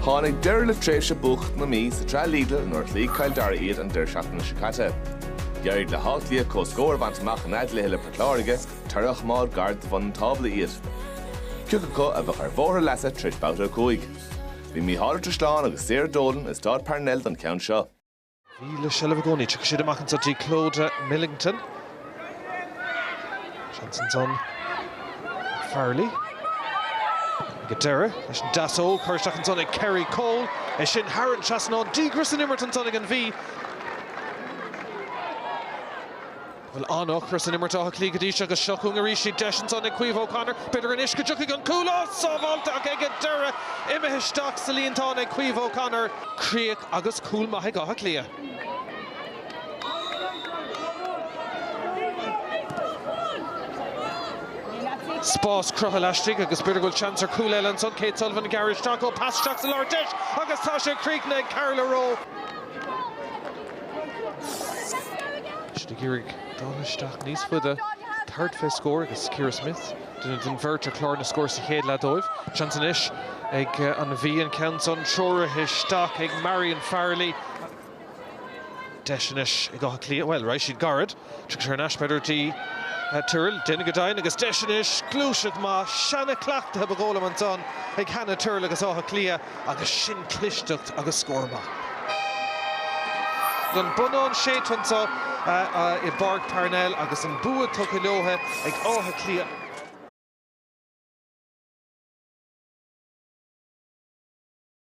Tháinig deireadh le tréimhse buacach na Mí sa tsraith Lidl nuair a chloígh Cill Dara iad an deireadh seachtaine seo caite. D'éirigh le hÁth Cliath comhscór a bhaint amach ina gcluiche le Port Láirge, toradh a choimeád gar do bhun an tábla iad. Cé acu a bheadh ar bhóthar a leasa tar éis Babhta 5. Bhí Micheál Ó Drisleáin agus Sarah Dolan i Stáid Parnell don cheann seo. Mhí le seilbh i gcónaí. Tiocfaidh siad amach anseo trí Clodagh Millington. Seans ansan Farrelly. Ag an deireadh leis an deasóg, curtha isteach ansan ag Kerrie Cole. É sin thar an trasnán, díograis san imirt ansan ag an Mhí. bhfuil an-ocras in imirt Átha Cliath go dtí seo agus seo chugainn arís iad. Deis ansan ag Caoimhe O'Connor. B'fhéidir anois go dtiocfaidh an cúl. Á, sábháilte ach ag an deireadh imithe isteach sa líontán ag Caoimhe O'Connor. Críoch agus cúl maith ag Áth Cliath. Spás cruthaithe laistigh agus b'fhéidir go bhfuil seans ar chúl eile ansan. Kate Sullivan ag gearradh isteach, ó, pas isteach sa lár. Deis agus tá sé críochnaithe ag Carla Rowe. Siad ag iarraidh dul isteach níos faide, tabhairt fé scór agus Ciara Smyth, duine den bheirt ar chlár na scór sa chéad leath dóibh. Seans anois ag An Mhí an ceann san treoraithe isteach ag Marion Farrelly. Deis anois ag Áth Cliath, bhuel, raghaidh siad gairid. Tiocfaidh sé thar n-ais b'fhéidir go dtí Tyrrell, deineann go deimhin agus deis anois! Gluaiseacht maith, seana-chleachtaithe ba dhóigh liom ansan ag Hannah Tyrrell agus Áth Cliath agus sin clisteacht agus scór maith. An bonnán séidte anso i bPáirc Parnell agus an bua tugtha leotha ag Áth Cliath.